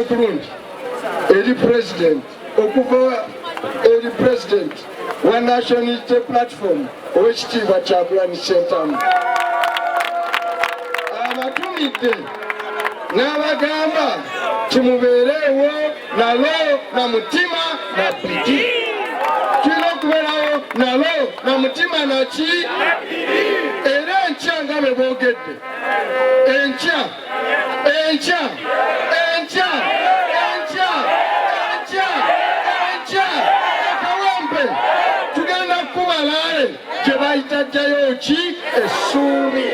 kulungi eri president okuva eri president wa national unity platform owekitiibwa kyagulanyi sentamu abatumidde n'abagamba kimubeereewo nalo na mutima na pidi tulina okubeerawo nalo na mutima naki era enkya nga bwe boogedde enkya enkya enkya enkya enkya enkya akawempe tugenda kukuba laale gye bayita jjayo ki essuubi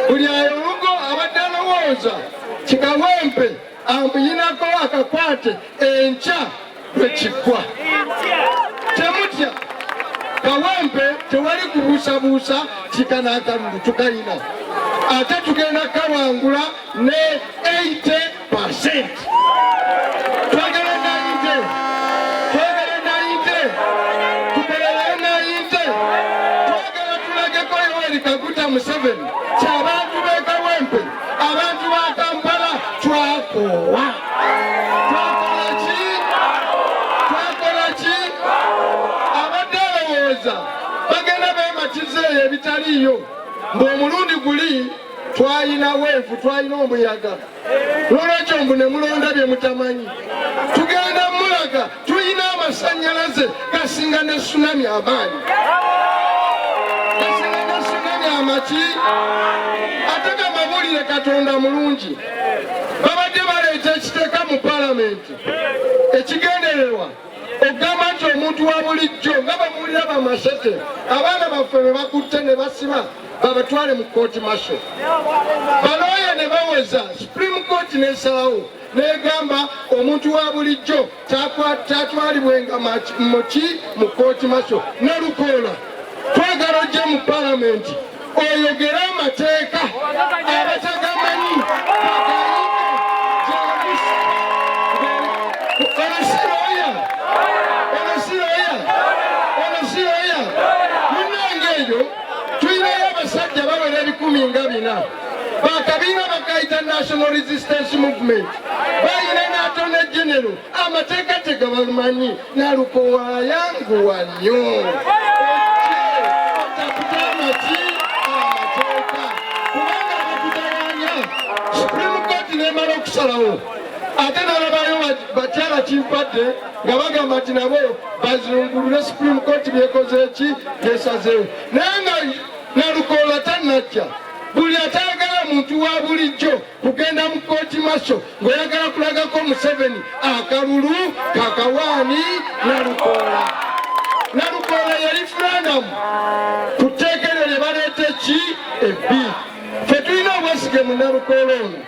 buli ayo olugo abadde alowooza kikawempe amuyinako akakwate enkya lwe kiggwa. Temutya kawempe, tewali kubuusabuusa kikana akalulu tukalina ate tugenda kawangula ne 80 percent. Museveni kyabantu b'e Kawempe Abantu ba Kampala twakoowa. Twakola ki? Twakola ki? Abadde alowooza bagenda beematiza eyo ebitaliiyo ng'omulundi guli twalina weevu twalina omuyaga lwolwekyo mbu ne mulonda bye mutamanyi tugenda mulaga tulina amasanyalaze gasinga ne sunami amaanyi gasinga ne sunami amaki ate gamawulire katonda mulungi babadde baleeta ekiteeka mu palamenti ekigendererwa okugamba nti omuntu wa bulijjo nga bamuwulira bamasete abaana baffe be bakutte ne basiba babatwale mu kooti maso balooya ne baweza supreme court nesalawo negamba omuntu wa bulijjo tatwalibwenga muki mu kooti maso nalukoola twagala ojje mu palamenti oyogere amateeka abatagamanyi munange eyo tulinayo abasajja bawera ebikumi nga bina bakabiina bagayita national resistance movement bayina natone genero amateeka tegabamanyi nalukowayanguwa nyo nemala okusalawo ate nalabayo bakyala kimpadde nga bagamba nti nabo bazungulule supreme court byekoze ki byesazeewo naye nga Nalukoola tannajja buli atayagala muntu wa bulijjo kugenda mu kooti maso ng'oyagala kulagako Museveni akalulu kakawaani Nalukoola. Nalukoola yali fulanamu ku tteeka eryo lye baleeta eki ebbi. Ffe tulina obwesige mu Nalukoola ono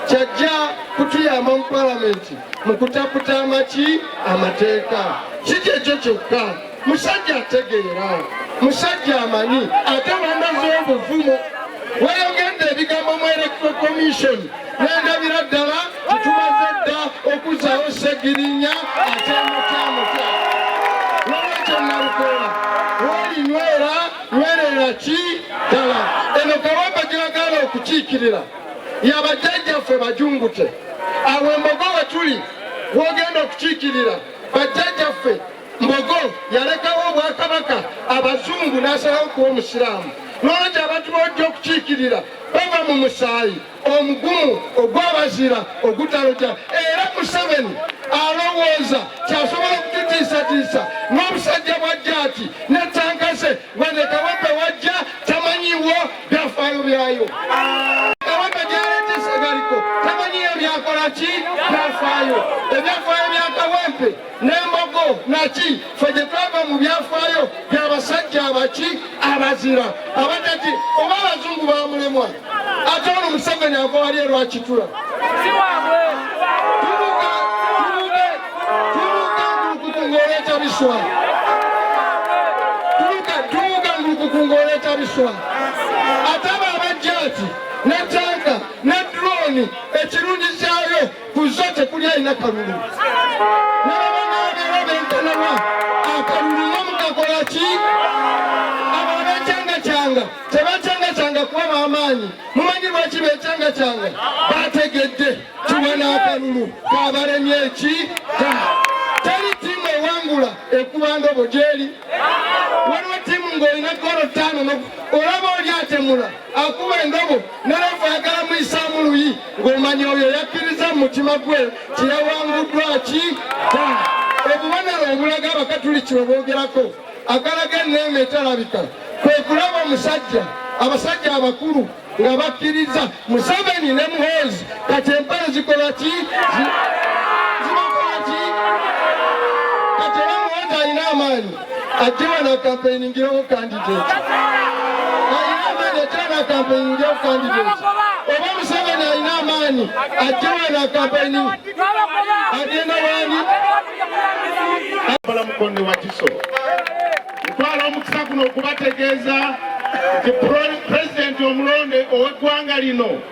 kyajja kutuyamba mu palamenti mu kutaputa amaki amateeka si kyekyo kyokka musajja ategeera musajja amanyi ate banaze obuvumo wayogedde ebigambo mu electro commission nendabira ddala tetumaze dda okuzawo segirinya atemutamuta nolwekyo nalukola wolinywera nywerera ki ddala eno kawamba gyagala okukiikirira yabajjajjaffe bajungute awo embogo wetuli wogenda okukiikirira bajjajjaffe Mbogo yalekawo obwakabaka abazungu n'asalawo kuwa omusiraamu n'olwekyo abantu b'ojja okukiikirira bava mu musaayi omugumu ogw'abazira ogutaloja era museveni alowooza kyasobola okututiisatiisa n'obusajja bwa jaati ne tanka ze wadde kawempe wajja tamanyiwo byafaayo byayo kawempe gyaleetesagaliko tamanyiyo byakola ki byafaayo ebyafaayo bya kawempe n'embogo naki fe gye twava mu byafaayo by'abasajja abaki abazira abataki oba abazungu bamulemwa ate ono museveni ava wali erwakitula tubuka biswa tubuka tubuka ngulukukunga oleeta biswa ate abo abajja ati ne tanka ne droni ekirungi kyayo ku zo tekuli alina kalulu nababanaabera benkanawa akalulu nga mukakola ki abo abekyangacanga tebakyangacanga kuba bamaanyi mumanyi lwaki bekyangacanga bategedde kiwa n'akalulu kabalemye eki teri tiimu ewangula ekubanga obo gyeri waliwo tiimu ng'olina golo ttaano olaba oli atemula akuba endobo nalevu ayagala muyisaamu luyi ng'omanya oyo yakkiriza mu mutima gwe kyeyawanguddwa ki da obubonero obulaga abakatuliki bwe boogerako akalaga enneema etalabika kwe kulaba omusajja abasajja abakulu nga bakkiriza museveni ne muhoozi kati empale zikola ki zibakola ki kati era muhoozi alina amaanyi ajje wano akampeyiningirawo kandidate alina amaanyi ajje wano akampeyiningirawo kandidate oba museveni alina amaanyi ajje wano akampeyini agenda wani balamukonde wakiso ntwala omukisa guno okubategeeza nti pulezidenti omulonde ow'eggwanga lino